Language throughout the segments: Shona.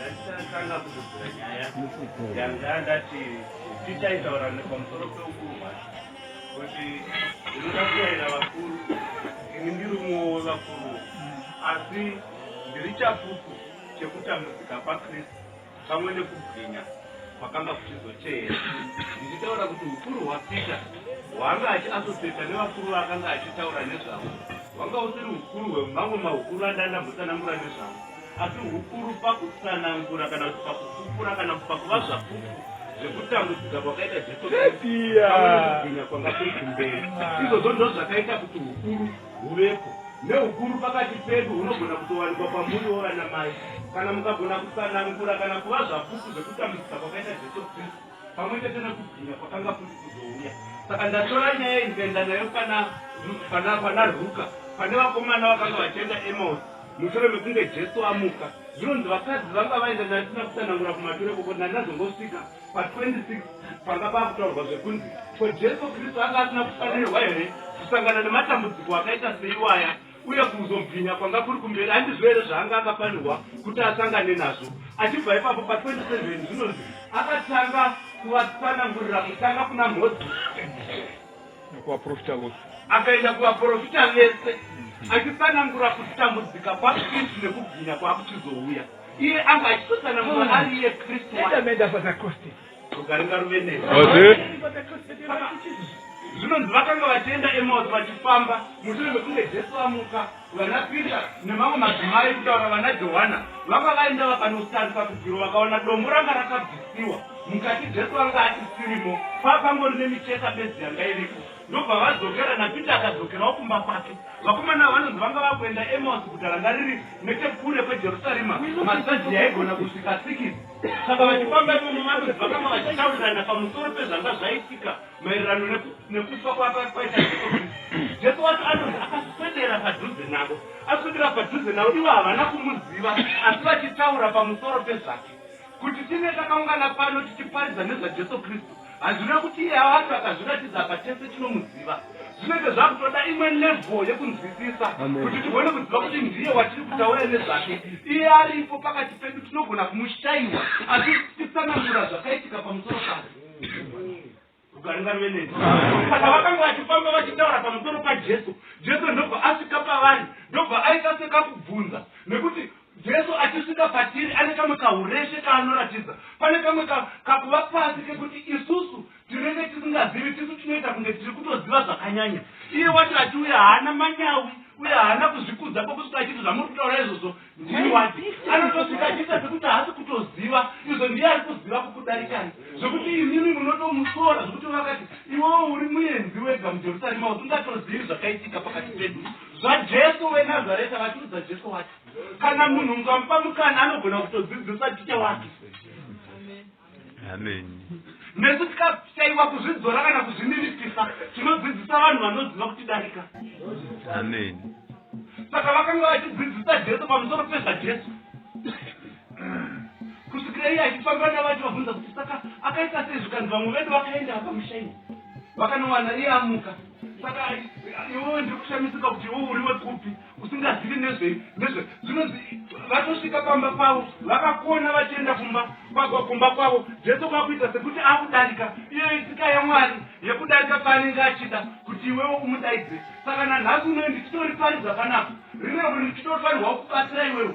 ndakatanga kutobvira nyaya yanga ndati tichaitaura nepamusoro peukurwa kuti ndinoda kuyaira vakuru ini ndiri umwewo wevakuru asi ndiri chapupu chekutambudzika kwakristu pamwe nekubwinya kwakanga kuchizoteera ndichitaura kuti ukuru hwapeter hwaanga achiasoseta nevakuru vaakanga achitaura nezvavo hwanga usiri ukuru hwemamwe maukuru andandambotsanangura nezvavo asi ukuru pakutsanangura kana kuti pakufukura kana kuti pakuva zvapupu zvekutambudzika kwakaita jesu kristu pamwe nekubwinya kwanga kuikumberi izvozvo ndo zvakaita kuti ukuru huvepo nehukuru pakati pedu hunogona kutowanikwa kwamuri wovana mai kana mukagona kusanangura kana kuva zvapupu zvekutambudzisa kwakaita jesu kristu pamwe chete nekubvira kwakanga kuri kuzouya saka ndatora nyaya iyi ndikaenda nayo pana pana pana ruka pane vakomana vakanga vachienda emaus mushure mekunge jesu amuka zvinonzi vakadzi vanga vaenda nayo tisina kusanangura kumature koko ndandazongosvika Pa 26 panga pakutaurwa zvekunzi ko Jesu Kristu anga asina kufanirwa here kusangana nematambudziko akaita seiwaya uye kuzomubhinya kwanga kuri kumberi andizvo here zvaanga akafanirwa kuti asangane nazvo. Achibva ipapo pa 27 zvinonzi akatanga kuvatsanangurira kutanga kuna Mhozi nekuvaprofita vose akaenda kuvaprofita vese achitsanangura kutambudzika kwaKristu nekubwinya kwaakuchizouya. iye anga achitosana munhu hmm. ari iye kristu endamenda patakoste ukaringa ruvenei zvinonzi vakanga vachienda emaus vachifamba mushure mekunge jesu vamuka vana pita nemamwe madzimai kutaura vana johana vanga vaenda vakanotarisa kudziro vakaona dombo ranga rakabvisiwa mukati jesu vanga atisirimo paakangori nemicheka bedzi yanga iriko Ndobva vadzokera naPeter akadzokerawo kumba kwake. Vakomana ava vanonzi vanga vava kuenda Emausi, guta ranga riri nechekure kweJerusarema, masaji yaigona kusvika sikisi. Saka vachifamba imomo, vanonzi vakanga vachitaurirana pamusoro pezvanga zvaitika maererano neku, nekufa kwaka kwaita Jesu Kristu. Jesu wacho anonzi akaswedera padhuze navo. Aswedera padhuze navo, ivo havana kumuziva, asi vachitaura pamusoro pezvake. Kuti tinge takaungana pano tichiparidza nezvaJesu Kristu hazvireve kuti iye acho akazviratidza apa tese tinomuziva. Zvinenge zvakutoda imwe level yekunzwisisa kuti tigone kuziva kuti ndiye watiri kutaura nezvake. Iye aripo pakati pedu tinogona kumushaiwa achititsanangura zvakaitika pamusoro pake. Rugare ngaruve neni. Saka vakanga vachifamba vachitaura pamusoro paJesu. Jesu ndobva asvika pavari, ndobva aita sekakubvunza, nekuti Jesu achisvika patiri ane kamwe kahureshe kaanoratidza. Pane kamwe ka, kakuva pasi kekuti isusu tinenge tisingazivi, tisu tinoita kunge tiri kutoziva zvakanyanya. Iye wacho achiuya haana manyawi uye haana kuzvikudza kwokusvika achiti zvamuri kutaura izvozvo ndini wati anotosvika achiita sekuti haasi kutoziva izvo ndiye ari kuziva kukudarikai zvekuti imimi munotomusora zvekuti vakati iwewo uri muenzi wega mujerusarema usingatozivi zvakaitika pakati pedu zvajesu wenazareta vatiudza jesu wati kana munhu mukamupa mukana anogona kutodzidzisa ticha wake nesu tikashaiwa kuzvidzora kana kuzvininipisa tinodzidzisa vanhu vanoziva kutidarika saka vakanga vachidzidzisa jesu pamusoro pezvajesu kusvikira iye achifamba navacho vabvunza kuti saka akaita sei zvikanzi vamwe vedu vakaenda vakamushaina vakanowana iye amuka saka iwewe ndiri kushamisika kuti iwe uri wekupi usingazivi nezvei nezve zvinonzi vatosvika pamba pavo vakakona vachienda kumba kumba kwavo jesu kwakuita sekuti akudarika iyo itsika yamwari yekudarika paanenge achida kuti iwewo umudaidze saka nanhasi unoe ndichitoriparidza panapa rinevuri ndichitofanirwa kubatsira iwewo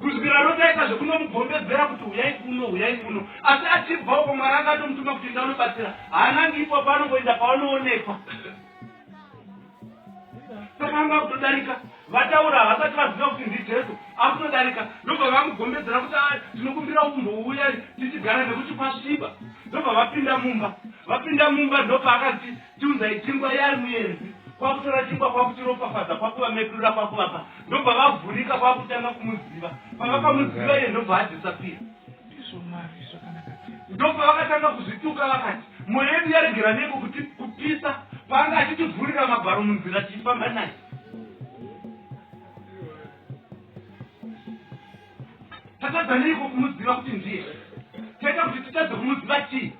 Kusvikira Roti aita zvekunomugombedzera kuti huyai kuno, huyai kuno. Asi achibva uko Mwari anga atomutuma kuti enda unobatsira. Haanangi ipapo anongoenda paanoonekwa. Saka anga akutodarika vataura havasati vaziva kuti ndijesu akutodarika ndobva vamugombedzera kuti a tinokumbira umbouya tichigara nekuti kwasviba ndobva vapinda mumba vapinda mumba ndopaakati Tiunzai chingwa yaari muenzi kwakutora chingwa kwakuchiropafadza kwakuvamedura kwakuvapa ndobva vavhurika kwakutanga kumuziva pavakamuziva iye ndobva adisapira ndobva vakatanga kuzvituka vakati mwoyo yedu yaregera neko kuti kupisa paanga achitivhurira magwaro munzira tichifamba naye tatadza neiko kumuziva kuti ndiye taita kuti titadze kumuziva chii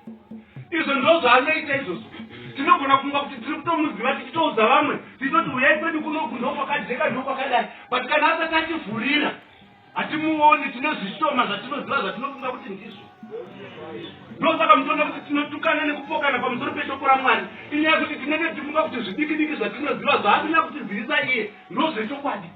izvo ndo zvaanoita izvozvo tinogona kunga kuti tiri kutomuziva tichitoudza vamwe tichitoti uyai kwedu kunoku ndokwakajeka ndokwakadai but kana asati ativhurira hatimuoni tine zvishoma zvatinoziva zvatinofunga kuti ndizvo ndosaka mutoona kuti tinotukana nekupokana pamusoro peshoko ramwari inyaya kuti tinenge tifunga kuti zvidikidiki zvatinoziva zvaatinya kutizivisa iye ndozvechokwadi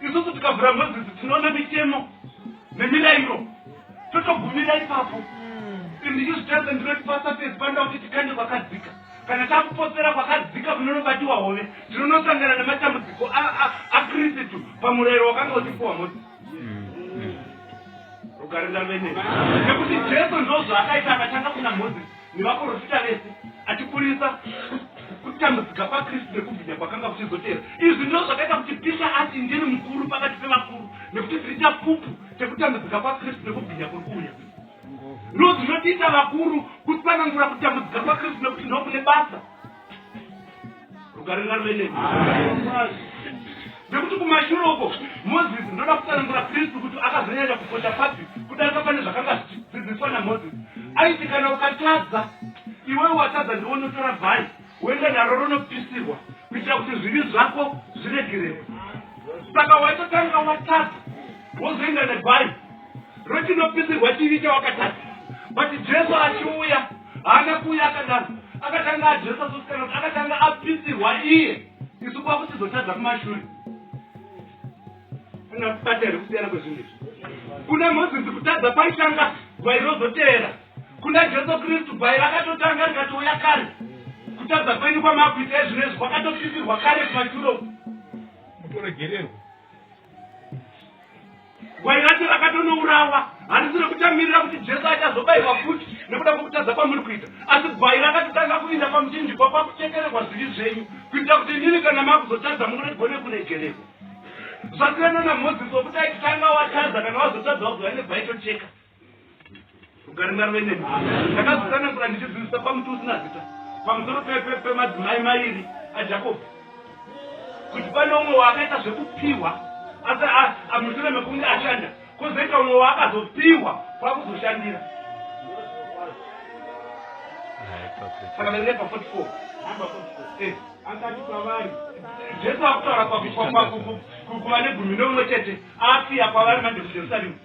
Isusu tikavhura ngozi idzi tinoona mitemo nemirairo totogumira ipapo and izvi zvitadza ndinoti pasafesi panoda kuti tikande kwakadzika kana takupotsera kwakadzika kunonobatiwa hove tinonosangana nematambudziko a- a- akristu pamurayiro wakanga uchipuwa mose rugare ndavene nekuti jesu ndozvaakaita akatanga kuna mozisi nemaporofita vese achiburitsa kutambudzika kwaKristu nekubwinya kwakanga kuchizoteera. Izvi ndizvo zvakaita kuti Pisha ati ndiri mukuru pakati pevakuru nekuti ndiri chapupu chekutambudzika kwaKristu nekubwinya kuri kuuya. Ndizvo zvinotiita vakuru kutsanangura kutambudzika kwaKristu nekuti ndokune basa. rugare ngaruende nekuti kumashure uko moses ndoda kutsanangura kristu kuti akazonyanya kukosha papi kudarika pane zvakanga zvichidzidziswa namoses aiti kana ukatadza iwewe watadza ndiwo unotora bhai woenda naro ronopisirwa kuitira kuti zvivi zvako zviregererwe saka waitotanga watadza wozoenda nebhai rwechinopisirwa chivi chawakatadza but jesu achiuya haana kuuya akadaro akatanga adresa sosikaroti akatanga apisirwa iye isu kwakutizotadza kumashure angakubata here kusiyana kwezvinhu izvi kuna mozisi kutadza kwaitanga gwai rozoteera kuna jesu kristu gwai rakatotanga rikatouya kare kutadza kwenyu kwamakuita ezvino izvi kwakatopisirwa kare kumashure kutoregererwa Gwai racho rakatonourawa, handisi rekuchamirira kuti Jesu achazobairwa futi nekuda kwekutadza kwamuri kuita, asi gwai rakatotanga kuinda pamuchinjikwa kwakuchekererwa zvivi zvenyu, kuitira kuti inini kana makuzotadza muregone kuregererwa. Zvasiyana naMozisi wekuti aitanga watadza kana wazotadza wagwai negwai tocheka. Ugari mwari wene. Ndakazotsanangura ndichidzidzisa pamuti usina zita pamusoro pemadzimai mairi aJakobho kuti pane umwe waakaita zvekupiwa asi amushure mekunge ashanda kozoita umwe waakazopiwa kwakuzoshandira saka verepa 44 namba 44 eh. akati kwavari jesu akutaura kuva negumi neumwe chete asiya kwavari manje mujerusaremu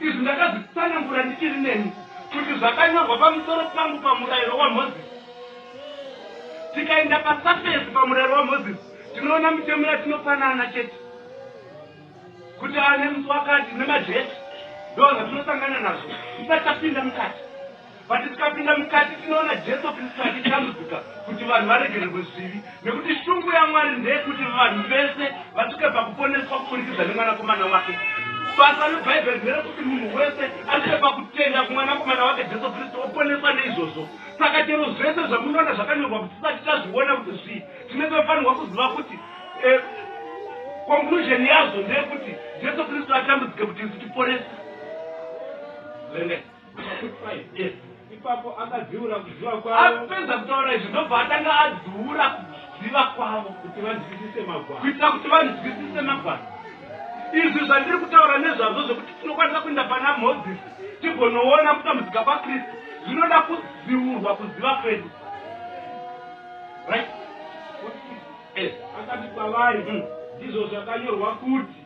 Izvi ndakazvitsanangura ndichiri nemi, kuti zvakanyorwa pamusoro pangu paMurairo waMozisi. Tikaenda pasafesi paMurairo waMozisi, tinoona mitemo yatinopanana chete, kuti ava nemusi wakati, nemajecha. Ndozvatinosangana nazvo tisati tapinda mukati. But tikapinda mukati tinoona Jesu Kristu achitambudzika kuti vanhu varegererwe zvivi. Nekuti shungu yaMwari ndeyekuti vanhu vese vasvike pakuponeswa kuburikidza neMwanakomana wake. Basa reBhaibheri nderekuti munhu wese asvike pakutenda kuMwanakomana wake Jesu Kristu oponeswa neizvozvo. Saka chero zvese zvamunoona zvakanyorwa kuti tisati tazviona kuti zvii, tine tofanirwa kuziva kuti eh, conclusion yazvo ndeyekuti Jesu Kristu atambudzike kuti isu tiponeswe. Verengai. Ipapo akadziura kuziva kwavo. Apedza kutaura izvi ndobva atanga adziura kuziva kwavo kuti vanzwisise magwaro. Kuitira kuti vanzwisise magwaro. Izvi zvandiri kutaura nezvazvo zvekuti tinokwanisa kuenda pana Mozisi tigonoona kutambudzika kwaKristu zvinoda kudziurwa kuziva kwedu. Right? Akati kwavari, hmm. ndizvo zvakanyorwa kuti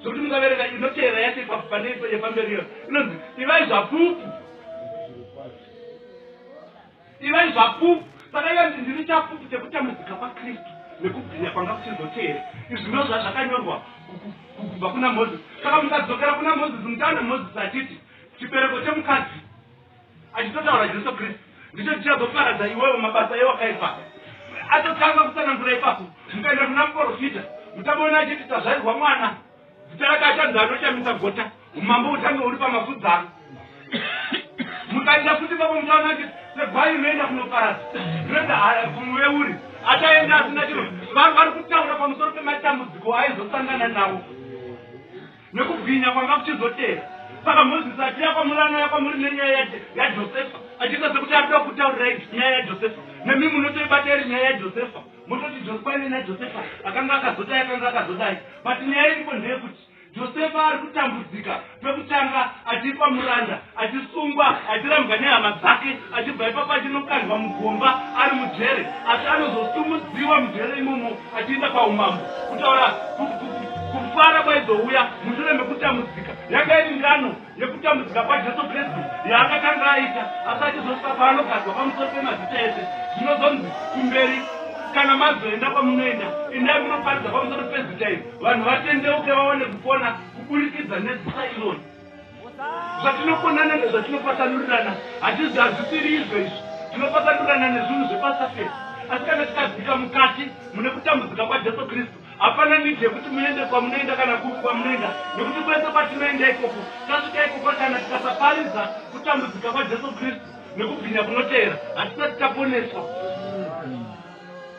zvokuti mukaverenga inoteera yacho ipapo pane ipo yepamberi iyo inonzi ivai zvapupu ivai zvapupu saka ivanzi ndiri chapupu chekutambudzika kwakristu nekubwinya kwanga kuchizoteera izvi ndo zvazvakanyorwa kubva kuna mozisi saka mukadzokera kuna mozisi mutaana mozisi achiti chibereko chemukadzi Achitotaura Jesu Kristu ndicho chichazoparadza iwewe mabasa ewakaipa. Atotanga kutsanangura ipapo, mukaenda kuna muporofita muchamuona achiti tazvarirwa mwana, zita rake achanzi anochamisa gota, umambo uchange uri pamafudzi ano. Mukaenda futi ipapo muchaona achiti segwai rinoenda kunoparadza rinoenda haya kumuveuri, achaenda asina chiro. Vanhu vari kutaura pamusoro pematambudziko aizosangana nawo. Nekubwinya kwanga kuchizotevera. Saka Mozisi achiuya kwamuri anouya kwamuri nenyaya yaJosefa achiita sekuti arikuda kutaurirai nyaya yaJosefa. Nemi munotoibata iri nyaya yaJosefa mototi Josephaine naJosefa akanga akazodai akanga akazodai but nyaya iripo ndeyekuti Josefa arikutambudzika pekutanga achiitwa muranda achisungwa achirambwa nehama dzake achibva ipapo achinokandwa mugomba ari mujere asi anozosumudziwa mujere imomo achiinda paumambo kutaura kufara kwaizouya mushure mekutambudzika yanga iri ngano yekutambudzika kwajesu kristu yaakatanga aita asi achizosvika paanogadzwa pamusoro pemazita ese zvinozonzi kumberi kana mazoenda kwamunoenda indai munoparidza pamusoro pezita iri vanhu vatendeuke vawane kupona kuburikidza nezita ironi zvatinokonana nezvatinopatsanururana hatizi hazvisiri izvo izvi tinopatsanururana nezvinhu zvepasa fesi asi kana tikadzika mukati mune kutambudzika kwajesu kristu hapana nidi yekuti muende kwamunoenda kana kupi kwamunoenda nekuti kwese kwatinoenda ikoko tasvika ikoko kana tikasaparidza kutambudzika kwajesu kristu nekubwinya kunoteera hatisati taponeswa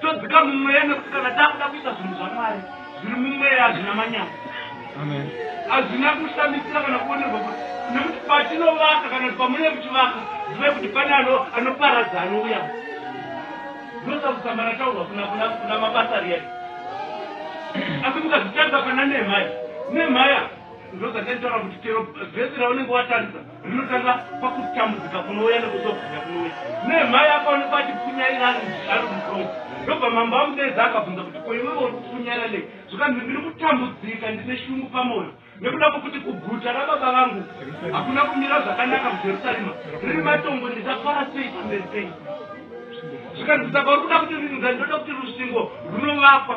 todzika mumweya nekuti kana takuda kuita zvinhu zvamwari zviri mumweya hazvina manyama hazvina kushamisira kana kuonerwa kuti nekuti patinovaka kana kuti pamune muchivaka zivai kuti pane anoparadza anouya ndosakusamana taurwa kuna mabasa riya asi mukazvitarisa pana nemhaya nemhaya ndozataitaura kuti chero vhesi raunenge watarisa Rinotanga pakutambudzika kunouya nekuzobwinya kunouya. Nemhai akaonekwa achipunyaira ari mukombi. Ndobva mambo amudedza akabvunza kuti ko iwewe uri kupunyaira nei? Zvikanzi ndiri kutambudzika ndine shungu pamwoyo nekuda kwekuti kuguta rababa vangu hakuna kumira zvakanaka mujerusarema riri matongo ndichafara sei pamberi penyu? Zvikanzi saka uri kuda kuti rinzani ndoda kuti rusvingo runovakwa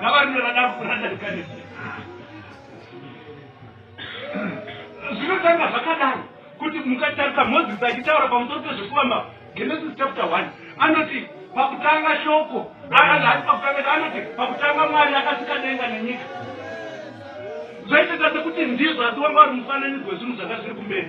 Gavana radaro kuranda rikarese. Zvinotanga zvakadaro kuti mukatarisa Moses achitaura pamusoro pezvekuvamba Genesis chapter 1 anoti pakutanga shoko aati pakutanga anoti pakutanga Mwari akasika denga nenyika zvaitata sekuti ndizvo asi wanga uri mufananidzo wezvinhu zvanga zviri kumberi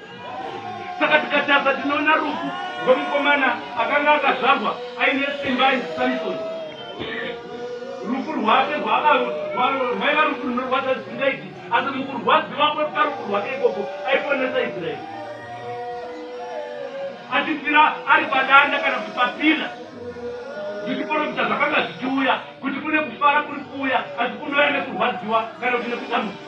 Saka tikatarisa tinoona rufu rwemukomana akanga akazvarwa aine simba ainzi Samson. Rufu rwake rwaiva rufu runorwadza zvisingaiti, asi mukurwadziwa kweparufu rwake ikoko aiponesa Israeri achifira ari padanda kana kuti papila zvichiporofita zvakanga zvichiuya kuti kune kufara kuri kuuya asi kunouya nekurwadziwa kana kuti nekudambudzika.